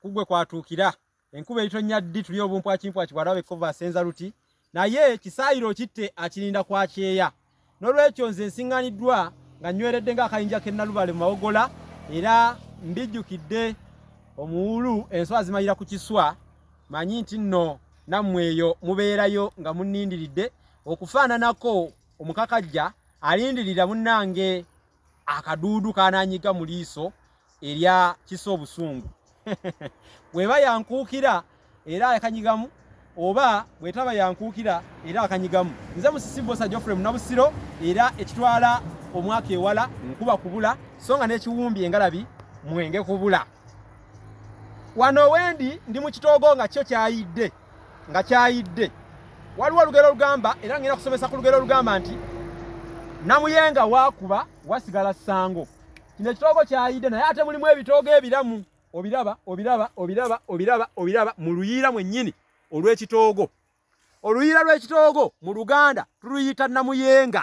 kugwe kwatuukira enkuba eritonnya ddi tuli obumpwakimpwaki bwalaba ekkovu asenza luti naye kisaayiro okitte akirinda kwakyeya n'olwekyo nze nsiŋŋaniddwa nga nnyweredde ng'akayinja k'ennalubale mu mawogola era mbijjukidde omuwulu enswa azimalira ku kiswa manyi nti nno nammwe eyo mubeerayo nga munnindiridde okufaananako omukakajja alindirira munnange akaduudu kananyiga mu liiso erya kisa obusungu weba yankuukira era akanyigamu oba bwetaba yankuukira era akanyigamu nze musisi bosa jofre munabusiro era ekitwala omwaka ewala nkuba kubula so nga n'ekiwumbi engalabi mwenge kubula wano wendi ndi mu kitoogo nga kyo kyayidde nga kyayidde waliwo olugero olugamba era ngenda kusomesa ku lugero olugamba nti namuyenga wakuba wasigala sango kino ekitoogo kyayidde naye ate mulimu ebitoogo ebiramu obiraba obiraba obiraba obiraba obiraba mu luyiira mwennyini olw'ekitoogo oluyiira lw'ekitoogo mu luganda tuluyita namuyenga